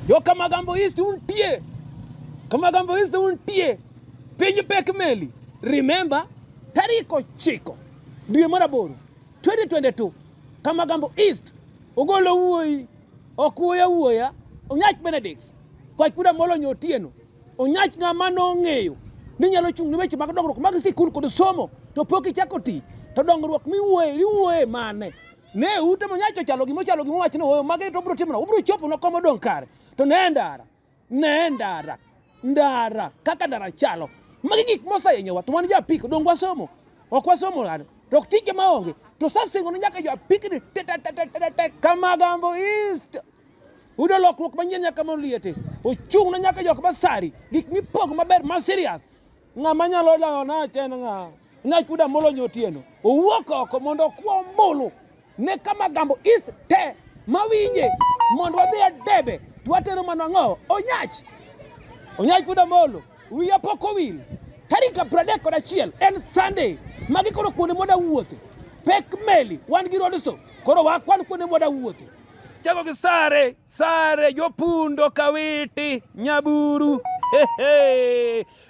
Jo Kamagambo East untie. Kamagambo East untie. Piny pek meli. Remember tarik ochiko dwe mar aboro 2022 Kamagambo East ogolo wuoyi ok wuoya wuoya Onyach Benedicts kwach buda molo nyotieno Onyach ng'ama nong'eyo ni nyalo chung' ne weche mag dongruok mag sikul kod somo to pok ichako tich to dongruok miwuoye iwuoye mane Ne ute mo nyacho chalo gimo chalo gimo wachno hoyo mage to bro timno ubro chopo no komo don kare to ne ndara ne ndara ndara kaka ndara chalo magi gik mosayenyowa to wan japiko dongo wasomo ok wasomo lado to ok tije maonge to sasingo ne nyaka japikni tetetetetete kama gambo east udo lokruok manyien nyaka moliete ochung' ne nyaka jok masari gik mipog maber ma serious Ng'ama nyalo dayo Nach en ng'a? Nach Uda Molonyo Otieno owuok oko mondo okwo mbulu ne kama gambo East te mawinje mondo wadhi e debe to watero mano ang'o? Onyach Onyach Uda Molo wiya pok owil tarik pradek kod achiel en Sunday magi koro kuonde moda wuothe pek meli wan gi rodso koro wakwan kuonde moda wuothe Tego gi sare sare jopundo kawiti nyaburu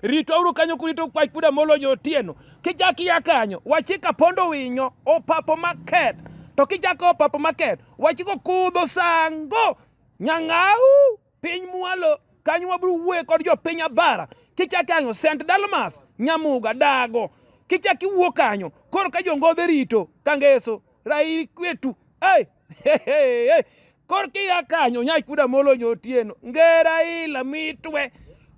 rito uru kanyo kurito kwach kuda molo jotieno kijaki ya kanyo wachika pondo winyo opapo market to kijako opapo market wachiko kudho sango nyang'au piny mwalo kanyo wabiro wuoye kod jopiny abara kichak kanyo st dalmas nyamuga dago kichak iwuo kanyo koro ka jongodhe rito kangeso rairi kwetu hey! korki ya kanyo nyai kuda molo nyotieno ngera ila mitwe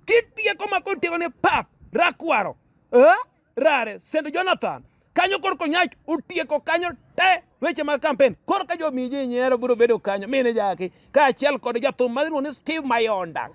kitie koma kotiego ne pap rakwaro eh? rare send jonathan kanyo korko nyai utieko kanyo te weche mag kampen korka jomiji nyiero biro bedo kanyo mine jaki kaachiel kod jathum madhiluongo ni steve mayonda